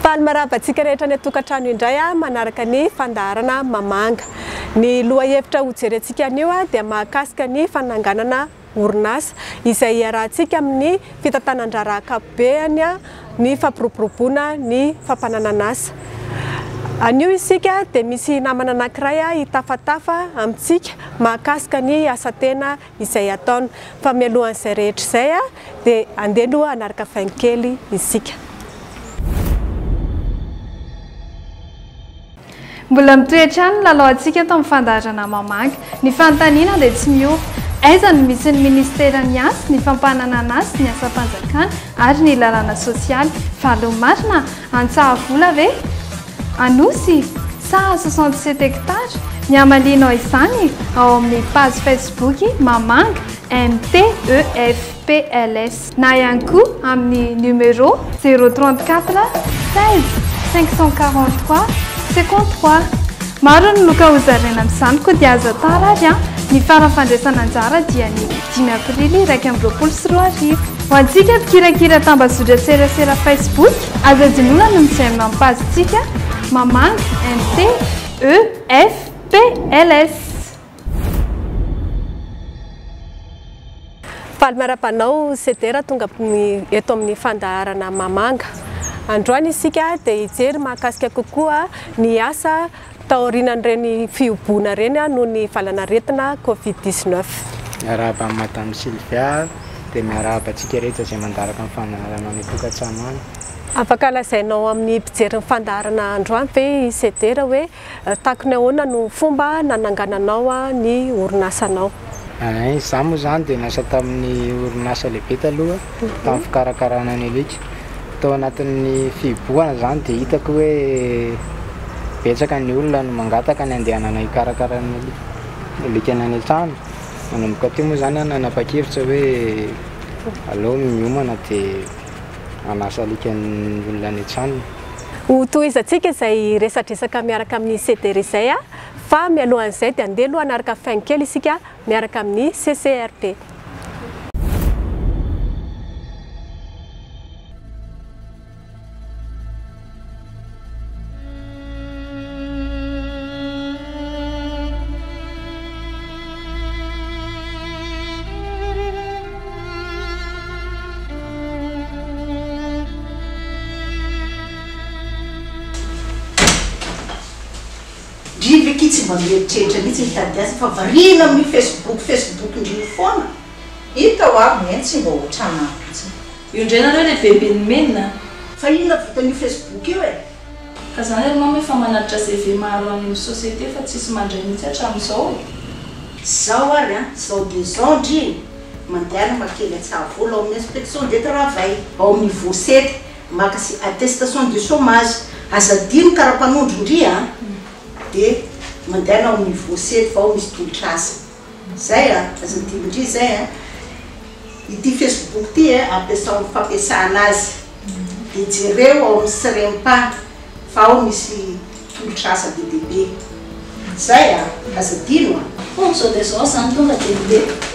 Faly marava antsika rehetra any an-tokantrano indray manaraka ny fandaharana Mamanga. Ny lohahevitra hojerentsika anio dia mahakasika ny fananganana orinasa, izay iarahantsika amin'ny fitantanan-draharaha ankapobeny ny fampiroboroboana ny fampananan'asa. Anio isika dia misy namana anankiray hitafatafa amintsika mahakasika ny asa tena izay ataony. Fa mialohan'izay rehetra izay dia andeha aloha hanaraka vaingo kely isika. Mbola mitohy hatrany ny lalaontsika eto amin'ny fandaharana Mamaky. Ny fanontaniana dia tsy miova. Aiza no misy ny Ministeran'ny Asa, ny Fampananana Asa, ny Asam-panjakana ary ny Lalàna Sosialy? Valiny marina? Antsahavola ve? Anosy? Sa soixante sept hectares? Ny hamalianao izany, ao amin'ny page Facebook Mamanga, MTEFPLS. na ihany koa amin'ny numéro 034 16 543 53. Maro ny loka hozaraina amin'izany koa dia aza tara ary an! Ny faran'ny fandraisana anjara dia ny dimy aprily iraika amby roapolo sy roa arivo. Ho antsika mpikirakira tambazotran-tserasera Facebook, aza adinoina ny mijery mampazontsika, mamanga, NT, E, F, P, LS. Faly miarahaba anao Ceder tonga eto amin'ny fandaharana Mamanga. Androany isika dia hijery mahakasika kokoa ny asa taorianan'ireny fihoboana ireny noho ny valan'aretina Covid 19. Miarahaba an'i Madame Sylvia dia miarahaba antsika rehetra izay mandaraka ny fandaharanao any an-tokantrano any. Afaka lazainao amin'ny mpijery ny fandaharana androany ve i Ceder hoe Takony ahoana no fomba nanangananao ny orinasanao? Izaho moa izany dia niasa tamin'ny orinasa lehibe taloha tamin'ny fikarakarana ny alika. Tao anatin'ny fihibohana izany dia hitako hoe betsaka ny olona no mangataka ny handehanana hikarakara ny alikany any an-trano. Nanomboka teo moa izany aho nanapa-kevitra hoe aleo miomana dia... hanasa alika ny olona any an-tranony. Ho tohizantsika izay resadresaka miaraka amin'i CDR izay a! Fa mialohan'izay dia andeha aloha hanaraka fin kely isika miaraka amin'ny CCRP. Ndry ve ki tsy mba mieritreritra mihitsy mitady azy fa variana amin'io facebook facebook ndry io foana? Hita ho avy ny ahy tsy mba ohatranao mihitsy. Io indray nareo ilay Bemben'ny Menina a! Fa inona vitan'io Facebook io e? Fa zany ry mama efa manatitra CV maro any amin'ny société fa tsisy mandray mihitsy hatramin'izao e! Zao ary an, zao de zao ndry e! Mandehana maka kely an-tsahavola ao amin'ny inspection de travail, ao amin'ny Voset, maka sy attestation de chômage, aza adino karapanondro ndry a! Dia mandehana ao amin'ny Voset fa ao misy tolotr'asa. Zay a! Aza dimbindry zay a! Ity Facebook ty e ampiasao am fampiasana azy de jereo ao am sremp fa ao misy tolotr'asa be dia be. Zay a! Aza adino a! Hoo zao dia zao zany tonga dia ndeha.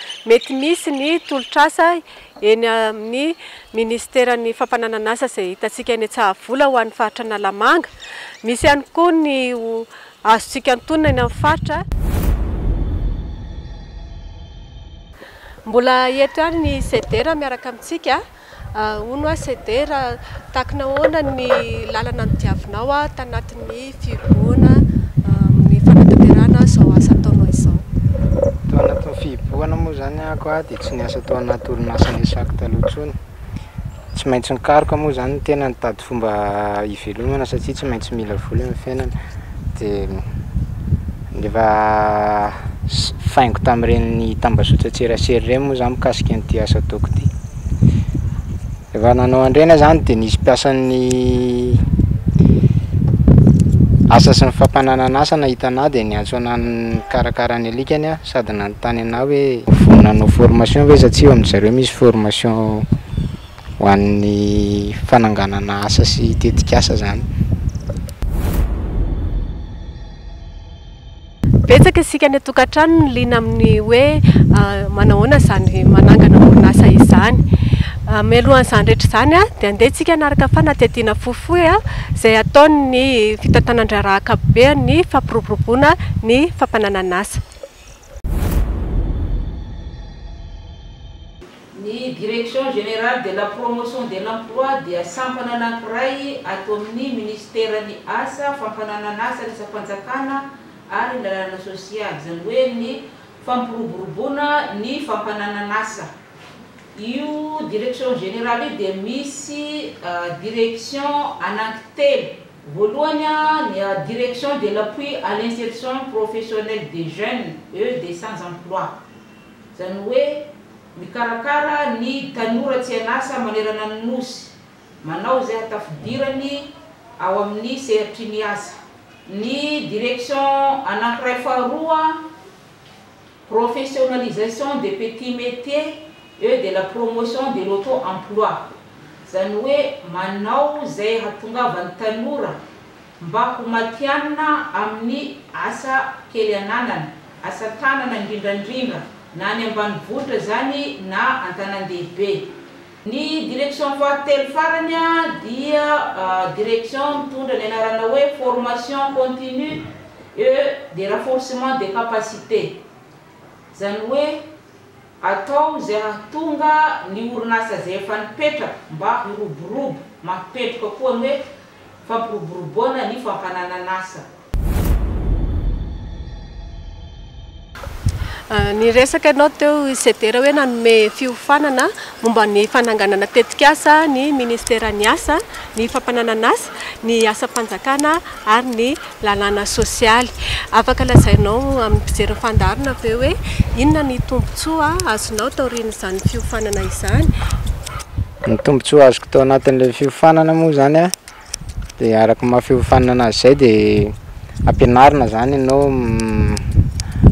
Mety misy ny tolotr'asa eny amin'ny minisiteran'ny Fampananan'asa izay hitantsika eny Tsahavola ho an'ny faritra Analamanga. Misy ihany koa ny ho azontsika antonona eny amin'ny faritra. Mbola eto ihany ny CDR miaraka amintsika. Hono hoa Ceder a, takina ahoana ny lalana nodiavinao aho tanatin'ny fihibohana amin'ny fanatanterahana izao asa ataonao izao? Tao anatin'ny fihibohana moa izany ahako aho dia tsy niasa tao anaty orinasa Nesac taloha intsony. Tsy maintsy nikaroka moa izany ny tena nitady fomba hivelomana satria tsy maintsy mila vola eo amin'ny fiainana dia. Efa faingo tamin'ireny tambazotran-tserasera ireny moa izany mikasika an'ity asa ataoko ity. Rehefa nanao an'ireny aho izany dia nisy mpiasan'ny asa sy ny fampananan'asa nahita anà dia niantso anà nikarakara ny alikany aho sady nanontany anà hoe vonona hanao formation ve izy satria ao amin-dry zareo misy formation ho an'ny fananganana asa sy tetik'asa izany. Betsaka isika any an-tokantrano no liana amin'ny hoe manahoana izany manangana orinasa izany. Mialohan'izany rehetra izany dia andeha isika hanaraka fanadihadiana fohifohy izay ataon'ny fitantanan-draharaha ankapobeny ny fampiroboroboana ny fampananan'asa. Ny Direction Générale de la Promotion de l'Emploi dia sampana anankiray ato amin'ny Minisiteran'ny Asa, Fampananan'asa Resa-panjakana ary ny Lalàna Sosialy, izany hoe ny fampiroboroboana ny fampananan'asa. Io Direction Générale io dia misy Direction anankitelo. Voalohany, ny Direction de l'Appui à l'Insertion Professionnelle des Jeunes, EDSANJ'Emploi. Izany hoe, mikarakara ny tanora tsy an'asa manerana ny Nosy, manao izay hatafidirany ao amin'ny sehatry ny asa. Ny Direction anankiray faharoa, Professionnalisation des petits métiers et de la promotion de l'auto emploi. Izany hoe, manao izay hahatongavan'ny tanora. Mba ho matihanina amin'ny asa kely ananana, asa tanana indrindrandrindra na any ambanivohitra izany na an-tanan-dehibe. Ny direction fahatelo farany dia direction mitondra ny anarana hoe formation continue et de renforcement des capacités. Izany hoe. Atao izay hahatonga ny orinasa izay efa nipetraka mba hiroborobo, mampipetroka koa ny hoe fampiroboroboana ny fampananan'asa. Niresaka ianao teo Ceder hoe nanome fiofanana momba ny fananganana tetikasa ny Ministeran'ny Asa, ny Fampananan'asa, ny Asam-panjakana ary ny Lalàna sosialy. Afaka lazainao amin'ny mpijery ny fandaharana ve hoe inona ny tombontsoa azonao taorian'izany fiofanana izany? Ny tombontsoa azoko tao anatin'ilay fiofanana moa izany an, dia araka ny maha fiofanana azy izay dia ampianarina izany ianao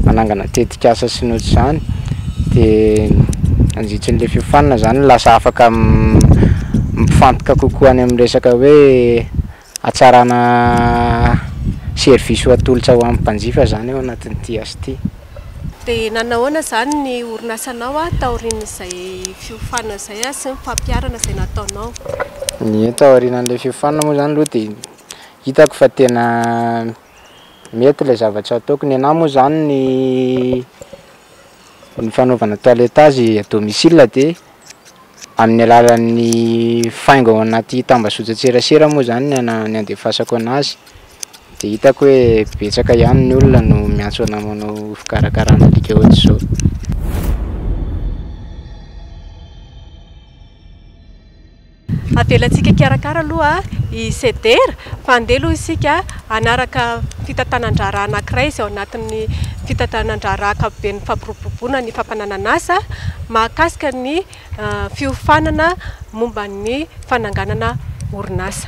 manangana tetikasa sy ny ohatr'izany, dia mandritran'ilay fiofanana izany lasa afaka mifantoka kokoa any amin'ny resaka hoe. Hatsarana service ho atolotra ho an'ny mpanjifa izany ao anatin'ity asa ity. Dia nanahoana izany ny orinasanao taorian'izay fiofanana izay sy ny fampiharana izay nataonao? Ny hoe taorian'ilay fiofanana moa izany aloha dia hitako fa tena mety ilay zavatra ataoko. Ny anah moa izany ny ny fanaovana toiletage à domicile dia. Amin'ny alalan'ny faingo ao anaty tambazotran-tserasera moa izany ny ana- ny andefasako anazy, dia hitako hoe betsaka ihany ny olona no miantso anà manao fikarakarana alika ohatr'izao. Avelantsika hikarakara aloha i Sedera fa andeha aloha isika hanaraka fitantanan-draharaha anankiray izay ao anatin'ny fitantanan-draharaha ankapoben'ny fampiroboroboana ny fampananan'asa mahakasika ny fiofanana momba ny fananganana orinasa.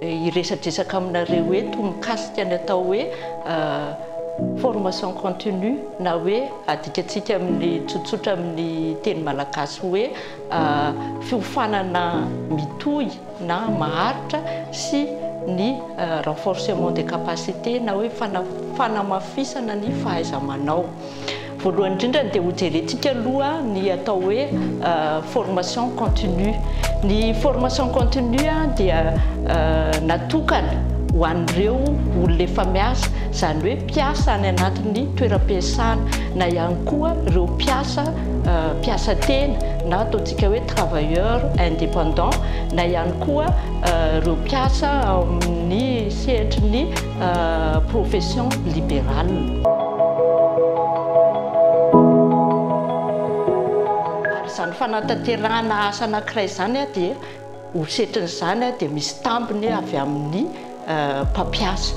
hiresadresaka aminareo eto mikasika ny atao hoe formation continue na hoe adikatsika amin'ny tsotsotra amin'ny teny malagasy hoe fiofanana mitohy na maharitra sy ny renforcement des capacités na hoe fanamafisana ny fahaiza-manao. Voalohany indrindra dia hojerentsika aloha ny atao hoe formation continue. Ny formation continue dia natokana ho an'ireo olona efa miasa, izany hoe mpiasa any anatin'ny toeram-piasana na ihany koa ireo mpiasa mpiasa tena na ataontsika hoe travailleur indépendant na ihany koa ireo mpiasa amin'ny sehatry ny profession liberale. Ary izany fanatanterahana asa anankiray izany dia ho setrin'izany dia misy tambiny avy amin'ny mpampiasa.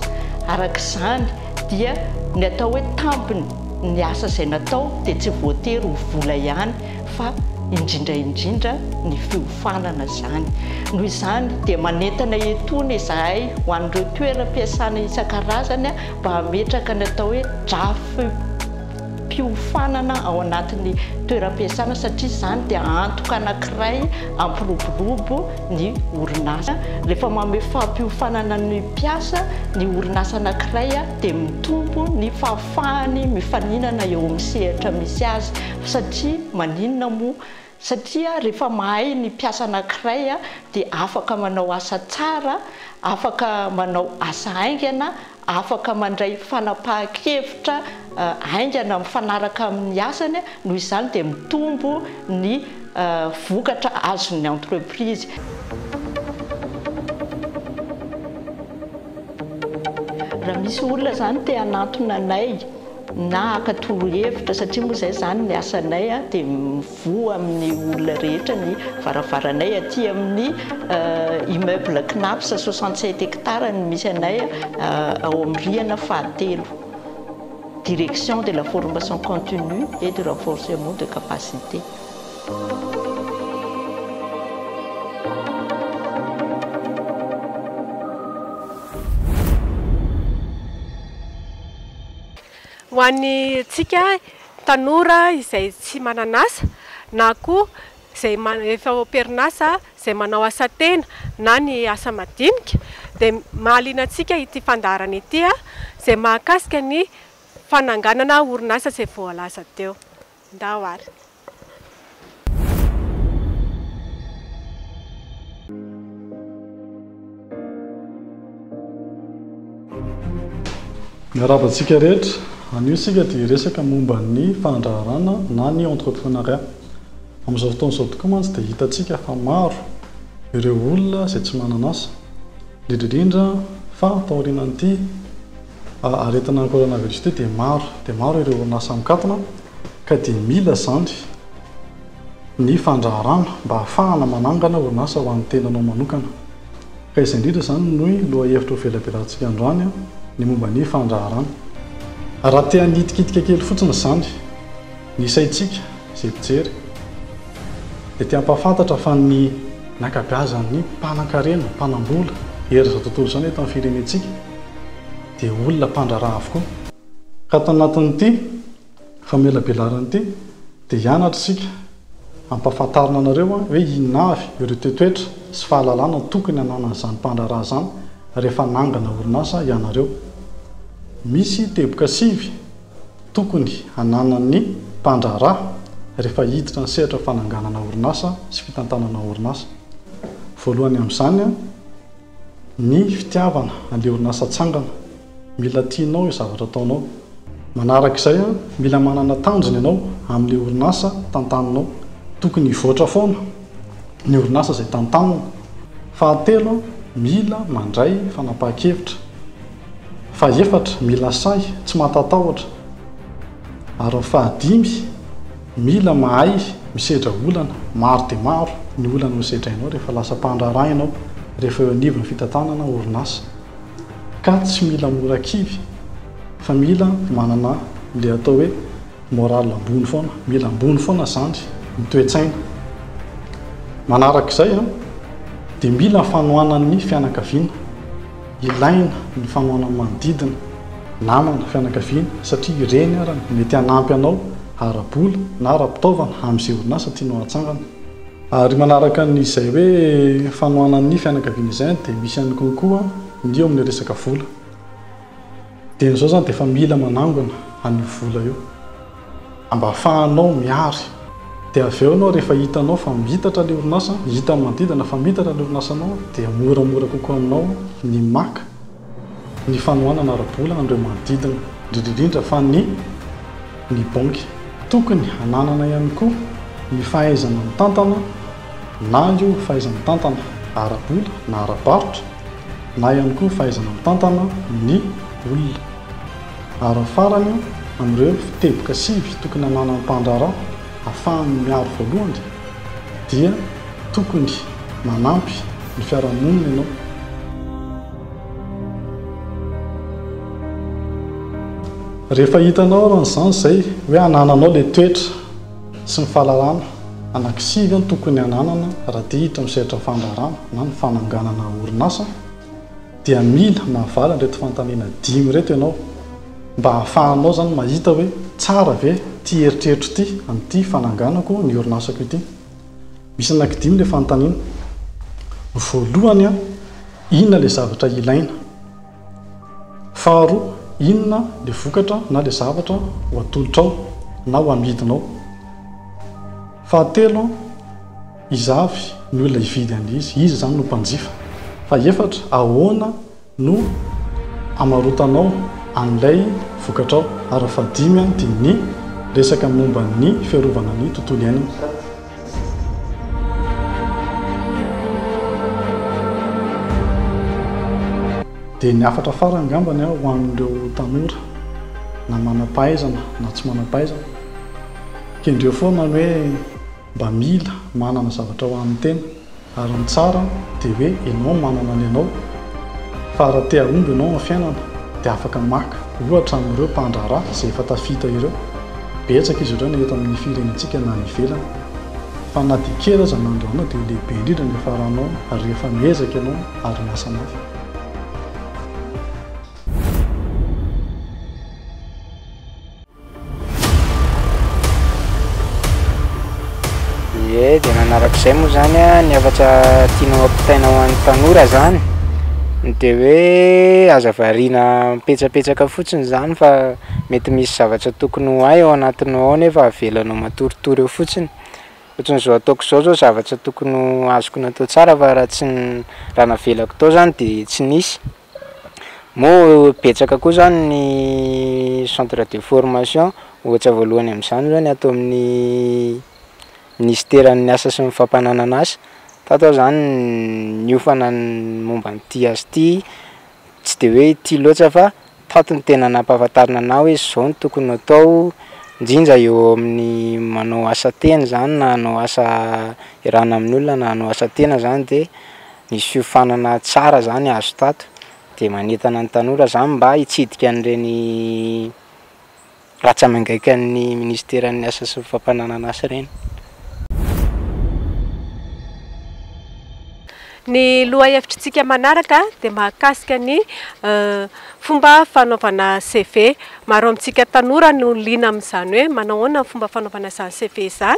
Araka izany dia ny atao hoe tambiny ny asa izay natao dia tsy voatery ho vola ihany fa indrindra indrindra ny fiofanana izany. Noho izany dia manentana etony izahay ho an'ireo toeram-piasana isan-karazany mba hametraka ny atao hoe drafi-piofanana ao anatin'ny toeram-piasana satria izany dia antoka anankiray hampiroborobo ny orinasa. Rehefa manome fampiofanana ny mpiasa ny orinasa anankiray dia mitombo ny fahafahany mifaninana eo amin'ny sehatra misy azy. Satria maninona moa? Satria rehefa mahay ny mpiasa anankiray dia afaka manao asa tsara, afaka manao asa haingana, afaka mandray fanapahan-kevitra haingana mifanaraka amin'ny asany, noho izany dia mitombo ny vokatra azon'ny entreprise. Raha misy olona izany te hanantona anay. na haka torohevitra satria moa izay izany ny asanay dia mivoha amin'ny olona rehetra ny varavaranay aty amin'ny immeuble Cnaps soixante sept hectares no misy anay ao amin'ny rihana fahatelo direction de la formation continue et du renforcement de capacité. Ho antsika tanora izay tsy manan'asa na koa izay efa ao am-perin'asa izay manao asa tena na ny asa madinika dia mahaliana antsika ity fandaharana ity izay mahakasika ny fananganana orinasa izay voalaza teo. Ndao ary. Miarahaba antsika rehetra. Anio isika dia hiresaka momba ny fandraharana na ny entrepreneuriat. Amin'izao fotoana izao tokoa mantsy dia hitantsika fa maro ireo olona izay tsy manana asa, indrindra indrindra fa taorianan'ity Aretina coronavirus ity dia maro dia maro ireo orinasa mikatona ka dia mila izany ny fandraharahana mba hahafahana manangana orinasa ho an'ny tenanao manokana. Ka izay indrindra izany no lohahevitra hovelabelantsika androany, ny momba ny fandraharana. Raha te hanitikitika kely fotsiny izany ny saintsika izay mpijery dia te hampahafantatra fa ny ankabeazan'ny mpanankarena, mpanambola eran'izao tontolo izao eto amin'ny firenentsika, dia olona mpandraharaha avokoa. Ka tao anatin'ity famelabelaran ity dia hianatra isika hampafantarina anareo hoe inona avy ireo toetoetra sy fahalalana tokony hananan'izany mpandraharaha izany rehefa hanangana orinasa ianareo. Misy teboka sivy tokony hananan'ny mpandraharaha rehefa hiditra ny sehatra fananganana orinasa sy fitantanana orinasa. Voalohany amin'izany. Ny fitiavana, andeha orinasa tsangana, mila tianao io zavatra ataonao. Manaraka izay, mila manana tanjona ianao amin'ilay orinasa tantaninao. Tokony hivoatra foana ny orinasa izay tantanina. Fahatelo, mila mandray fanapahan-kevitra. Fahefatra, mila sahy, tsy mahatatahotra. Ary ny fahadimy. Mila mahay misedra olana, maro dia maro ny olana hosedrainao rehefa lasa mpandraharaha ianao, rehefa eo anivon'ny fitantanana orinasa. Ka tsy mila mora kivy fa mila manana ilay atao hoe morale ambony foana, mila ambony foana izany ny toe-tsaina. Manarak'izay dia mila fanohanan'ny fianakaviana. Ilaina ny fanohanan'ny manodidina, namana, fianakaviana satria ireny ary no mety hanampy anao ara-bola na ara-pitaovana amin'izay orinasa tianao hatsangana. Ary manaraka an'izay hoe fanohanan'ny fianakaviana izay dia misy ihany koa ny eo amin'ny resaka vola. Dia izao izany dia efa mila manangona an'io vola io mba ahafahanao mihary. Dia avy eo ianao rehefa hitanao fa miitatra ilay orinasa, hitan'ny manodidina fa miitatra ilay orinasanao dia moramora kokoa aminao ny maka ny fanohanana ara-bola an'ireo manodidina, indrindra indrindra fa ny ny banky. Tokony hananana ihany koa ny fahaizana mitantana. na io fahaiza-mitantana ara-bola na ara-barotra, na ihany koa fahaizana mitantana ny olona. Ary ny farany amin'ireo teboka sivy tokony hananan'ny mpandraharaha hahafahany miaro voalohany dia tokony manampy ny fiarahamonina ianao. Rehefa hitanao aran'izany izay hoe anananao ilay toetra. sy ny fahalalana anankisivy no tokony hananana raha te hiditra amin'ny sehatry ny fandraharahana na ny fananganana orinasa dia mila mahavaly an'ireto fanontaniana dimy ireto ianao mba hahafahanao izany mahita hoe tsara ve ity eritreritro ity amin'ity fananganako ny orinasako ity. Misy anankidimy ilay fanontaniana. Ny voalohany, inona ilay zavatra ilaina? Faharoa, inona ilay vokatra na ilay zavatra ho atolotrao na ho amidinao. Fahatelo, iza avy ny olona hividy an'izy, iza izany no mpanjifa. Fahefatra, ahoana no hamarotanao an'ilay vokatrao. Ary fahadimy dia ny resaka momba ny fiarovana ny tontolo iainana. Dia ny hafatra farany angambany ho an'ireo tanora na manam-pahaizana na tsy manam-pahaizana, kendreo foana ny hoe mba mila manana zavatra ho an'ny tena Ary ny tsara dia hoe ianao manana ny anao fa raha te hahomby ianao amin'ny fiainana dia afaka maka ohatra amin'ireo mpandraharaha izay efa tafita ireo. Betsaka izy ireo na eto amin'ny firenentsika na any ivelany. Fa na dia kely aza ny androanao dia ho lehibe indrindra ny hafaranao rehefa miezaka ianao ary miasa mafy. Ie dia nanaraka izay moa izany ny hafatra tianao hampitaina ho an'ny tanora izany dia hoe aza variana mipetsapetsaka fotsiny izany fa mety misy zavatra tokony ho hay ao anatinao ao nefa avelanao matoritory eo fotsiny. Ohatran'izao ataoko izao izao zavatra tokony ho azoko natao tsara fa raha tsy raha navelako tao izany dia tsy nisy. Moa betsaka koa izany ny centre de formation, ohatra voalohany amin'izany izao ny ato amin'ny minisiteran'ny asa sy ny fampananana asa, tato aho izany niofana ny momba an'ity asa ity, tsy dia hoe ity loatra fa tato no tena nampahafantarina anah hoe izao no tokony hatao, indrindra eo amin'ny manao asa tena izany na hanao asa iarahana amin'olona na hanao asa tena izany dia. Ny fiofanana tsara zany azo tato dia manentana ny tanora zany mba hitsidika an'ireny ratsa-mangaikan'ny minisiteran'ny asa sy ny fampananan'asa ireny. Ny lohahevitritsika manaraka dia mahakasika ny fomba fanaovana CV. Maro amintsika tanora no liana amin'izany hoe manao ahoana ny fomba fanaovana izany CV izany